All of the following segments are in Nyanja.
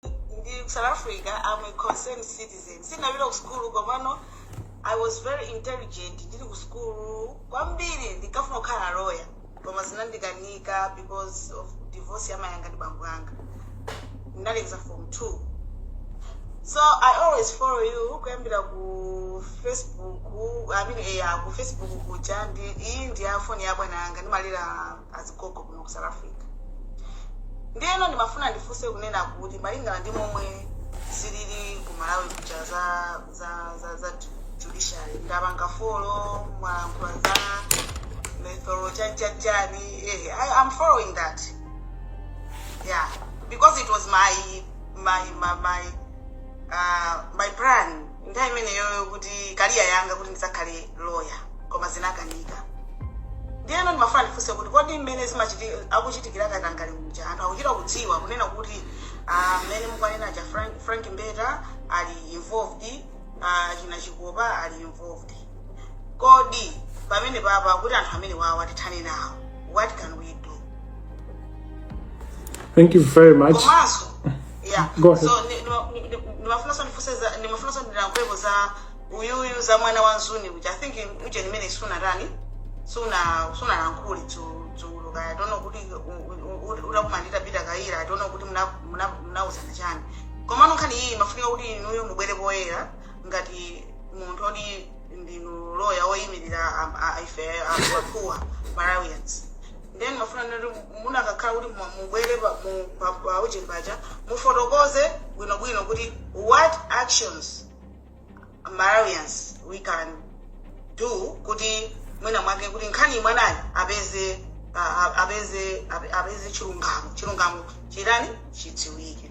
in South Africa, I'm a concerned citizen. Sinapita ku school komano I was very intelligent. Ndili ku school kwambiri ndikafuna kukhala lawyer koma zinandikanika because of divorce ya mayi anga ndi bambo anga. Ndinalekeza form 2. So I always follow you kuyambira ku Facebook, I mean eh, ku Facebook kuja ndi iyi ndi ya phone ya bwana anga ndimalera azigogo kuno ku south africa ndiyeno ndimafuna ndifunse kunena kuti malingana ndi momwe zilili ku malawi kuja za za za, za ju- judiciary ndapanga folo mwalankhula za Methodo chanchachani eh, I, i'm following that yeah because it was my my my, my uh, my plan nthawi imeneyoyo kuti kaliya yanga kuti ndidzakhale lawyer koma zinakanika ndiyeno ndimafuna ndifunse kuti kodi mmene zimachiti- akuchitikira katangale uja anthu akuchita kudziwa kunena kuti ah, mmene mukunena cha frank, frank mbeta ali involved ah, china Chikopa ali involved Kodi pamene papa kuti anthu amene awa tithane nawo what can we do Thank you very much. komanso yeah Go ahead. so ni- nima- ni- ni- nimafunanso ndifunse za- nimafunanso ndilankhulepo za uyuyu za mwana wa Msuni which i think uje nimene sunatani suna sunalankhule dzu- dzulo kaya tionane kuti utakumana ndi Peter kaya tionane kuti muna- muna- munauzana chani komano nkhani iyi imafunika kuti inuyo mubwere poyera ngati munthu oti ndinu loya woyimirira am- a- ife anthu poor malawians then ndimafuna kuti munakakhala kuti mu- mubwere pa- mu- pa- pa ujeni paja mufotokoze bwinobwino kuti what actions malawians we can do kuti mwina mwake kuti nkhani ya mwanayi apeze a- a- apeze ape- apeze chilungamo chilungamo chitani chidziwike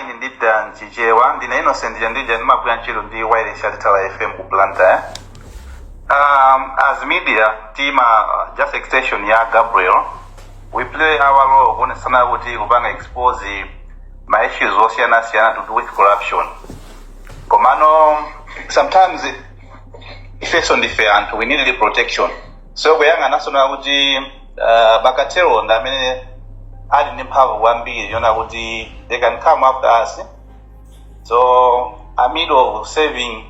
Ine ndinena m'Chichewa, ndine Innocent Chandija ndimagwira ntchito ndi Wireless ya Litala FM ku Blantyre. Um, as media, tima- uh, just extension ya Gabriel, we play our role kuonetsetsa kuti kupanga expose ma issues osiyana siyana to do with corruption. Komano sometimes ifeso ndife anthu we need protection. so kuyang'ananso na kuti uh, ma cartel ndi amene ali ndi mphamvu kwambiri yoona kuti they can come after us so amid of serving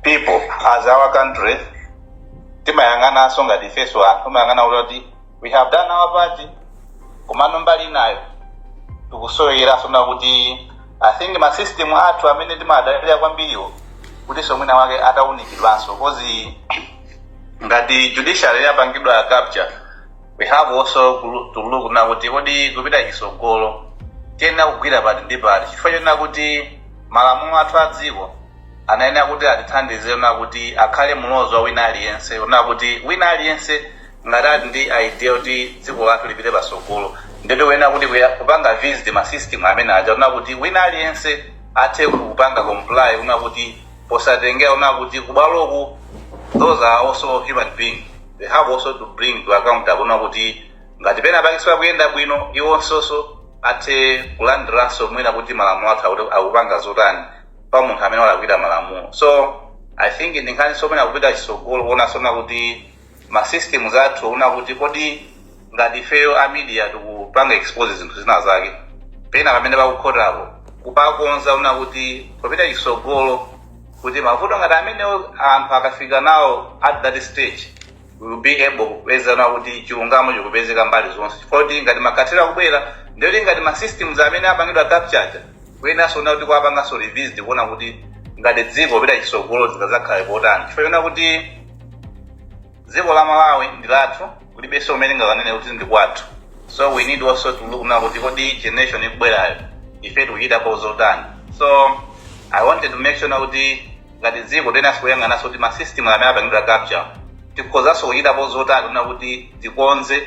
people as our country timayang'ananso ngati ifeso anthu timayang'ana kuti we have done our part komano mbali inayo tikusowekeranso na kuti i think masystem athu amene timadalira kwambiriwo kutinso mwina wake ataunikidwanso coz ngati judiciary yapangidwa capture we have also to look na kuti kodi kupita chisogolo tiyenera kugwira pati ndi pati chifukwa chonena kuti malamulo athu a dziko anayenera kuti atithandize na kuti akhale mulozo wa wina aliyense na kuti wina aliyense ngati ali ndi idea kuti dziko lathu lipite pasogolo ndipo wona kuti kuya- kupanga visit ma system amene aja na kuti wina aliyense athe kupanga comply na kuti posatengera ona kuti kubwaloku those are also human being they have also to bring to account kuona kuti ngati pena pake sipakuyenda bwino iwonso athe kulandiranso mwina kuti malamulo athu akuti akupanga zotani pa munthu amene walakwira malamulo so i think ndi nkhaninso imene kupita chisogolo kuonanso na kuti ma systems athu ona kuti kodi ngati ifeyo a media tikupanga expose zinthu zina zake pena pamene pakukhotapo kupakonza ona kuti popita chisogolo kuti mavuto ngati amenewo anthu akafika nawo at that stage we will be able kupeza kuona kuti chilungamo chikupezeka mbali zonse chifukwa kuti ngati makhothi akubwera ndiyoti ngati ma systems amene apangidwa capture aja kuyeneranso kuona kuti kuwapanganso revisit kuona kuti ngati dziko kupita chisogolo zingazakhale potani chifukwa chonena kuti dziko la malawi ndi lathu kulibenso kumene tingakanene kuti ndi kwathu so we need also to look na kuti kodi generation ikubwerayo ife tikuchitapo zotani so i wanted to make sure na kuti ngati dziko tiyeneranso kuyang'ananso kuti masystem amene apangidwa capture tikhozanso kuchitapo zotani na kuti tikonze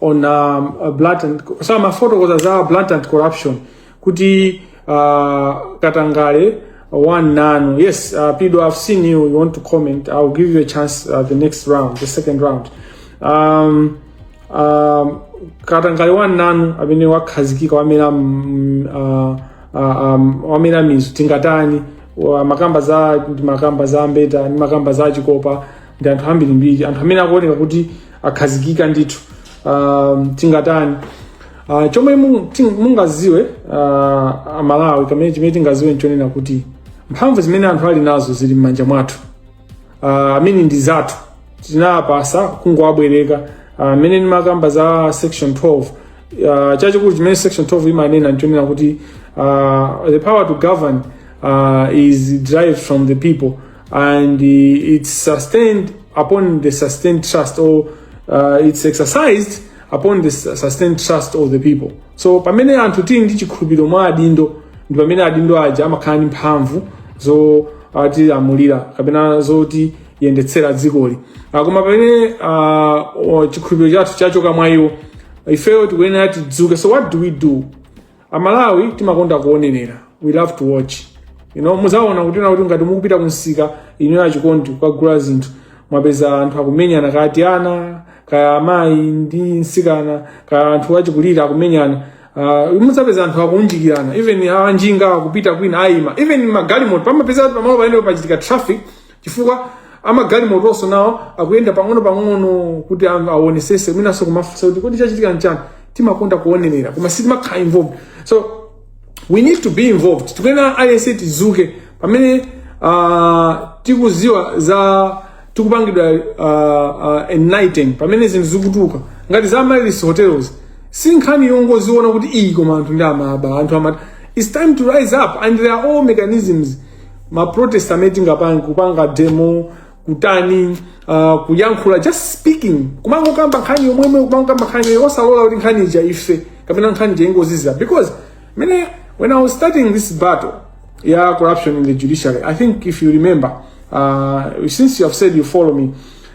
on um, uh, blatant so amafotokoza za blatant corruption kuti uh, katangale one nanu yes uh, pido i've seen you you want to comment i'll give you a chance uh, the next round the second round um, um, katangale one nanu amene wakhazikika wamera mm, uh, uh, um, wamera mizu tingatani wa- makamba za ndimakamba za mbeta ndimakamba za chikopa ndi anthu ambirimbiri anthu amene akuoneka kuti akhazikika ndithu um, tingatani uh, chomwe mu- ti- mungaziwe uh, amalawi kamene chimene tingaziwe nchonena kuti mphamvu zimene anthu ali nazo zili m'manja mwathu uh, mmene ndi zathu tinawapasa kungowabwereka mmene uh, ndimakamba za section 12 uh, chachikulu chimene section 12 imanena nchonena kuti uh, the power to govern uh, is derived from the people and uh, it's sustained upon the sustained trust or uh, it's exercised upon the su- sustained trust of the people so pamene anthu tili ndi chikhulupiriro mwa adindo ndi pamene adindo aja amakhala ndi mphamvu zotilamulira kapena zotiyendetsera dzikoli Ah, koma pamene ah, o- chikhulupiriro chathu chachoka mwa iwo ifeyo tikuyenera tidzuke so what do we do amalawi timakonda kuonenera we love to watch you know muzaona kunena kuti ngati mukupita kumsika inu achikondi kukagula zinthu mwapeza anthu akumenyana kaya tiana kaya amayi ndi nsikana kaya anthu achikulira akumenyana uh, mudzapeza anthu akunjikirana even anjinga akupita kwina ayima even magalimoto pamapeza pamalo pamene pachitika traffic chifukwa amagalimotonso nawo akuyenda pang'ono pang'ono kuti anthu awonesese mwinanso kumafunsa kuti kodi chachitika nchani timakonda kuonerera koma sitimakhala involved so we need to be involved tikuyenera aliyense tizuke pamene uh, tikuziwa zatikupangidwa uh, uh, enlighten pamene zinthu zikutuluka ngati za Amaryllis hotel si nkhani yongoziona kuti iyi koma anthu ndiye amaba anthu amata it's time to rise up and there are all mechanisms maprotest amene tingapange kupanga demo kutani uh, kuyankhula just speaking kumangokamba nkhani yomweyo kumangokamba nkhani yomwe osalola kuti nkhani ija ife kapena nkhani ija ingozizira because mene when i was starting this battle ya corruption in the judiciary i think if you remember uh, since you have said you follow me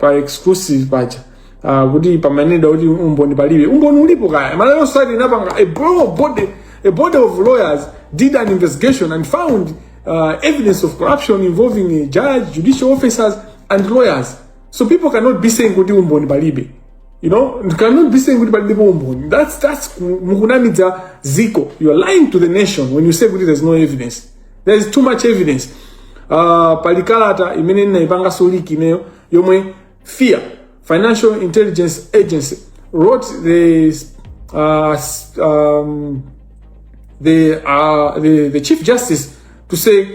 pa exclusive paja uh, kuti pamaneda kuti umboni palibe umboni ulipo kaya malawi society inapanga a broad body a body of lawyers did an investigation and found uh, evidence of corruption involving a judge judicial officers and lawyers so people cannot be saying kuti umboni palibe you know you cannot be saying kuti palibepo umboni that's that's mukunamidza ziko you are lying to the nation when you say kuti there's no evidence there is too much evidence uh, pali kalata imene ndinayipanganso leak ineyo yomwe fia financial intelligence agency wrote the uh, s- um, the, uh, the, the chief justice to say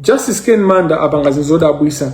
justice ken manda apanga zinthu zodabwisa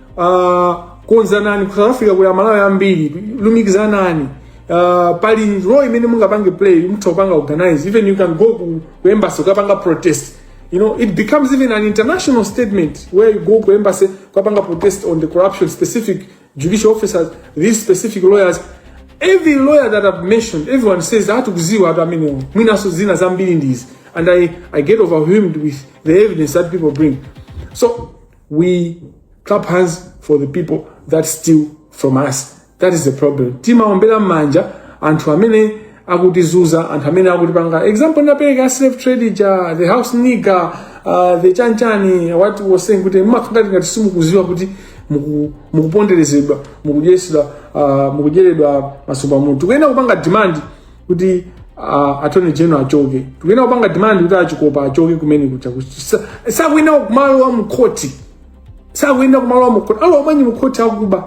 uh, konzanani ku south africa kuli amalawi ambiri lumikizanani uh, pali role imene mungapange play mutha kupanga organize even you can go ku, ku embassy kukapanga protest you know it becomes even an international statement where you go ku embassy kukapanga protest on the corruption specific judicial officers these specific lawyers every lawyer that i've mentioned everyone says atikuziwa anthu amenewo mwinaso zina zambiri ndizi and I, i get overwhelmed with the evidence that people bring so we clap hands for the people that steal from us that is the problem timaombera m'manja anthu amene akutizuza anthu amene akutipanga example ndapereka slave trade ja the house nigger uh, the chanchani what I was saying kuti mumakhala ngati ngati simukuziwa kuti muku- mukuponderezedwa mukudyetsedwa uh, mukudyeredwa masuku pamutu tikuyenera kupanga demand kuti uh, attorney general achoke tikuyenera kupanga demand kuti achikopa achoke kumene kuja sakuyenera kumalowa mkhoti sakuyenera kumalowa mkhoti alowamonji mkhoti akuba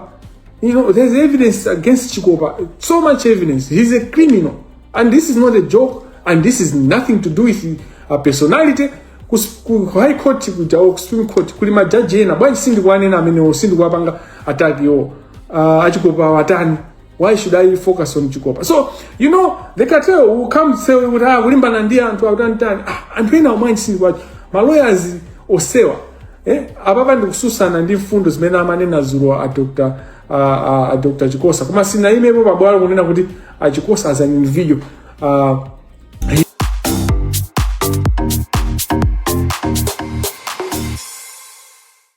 you know there's evidence against chikopa so much evidence he's a criminal and this is not a joke and this is nothing to do with a personality ku, ku high court kuja or supreme court kuli majaji ena bwanji sindikuwanena amenewo sindikuwapanga attack iwo uh, achikopa watani why should i focus on chikosa so you know the cartel will come say kuti ah kulimbana ndi anthu akutantani ah anthu ena omwe achisilikwacho ma lawyers omwewa eh apapa ndikususana ndi mfundo zimene amanena zulo a dr a, a, a dr chikosa koma sinayimepo pabwalo kunena kuti a chikosa as an individual uh,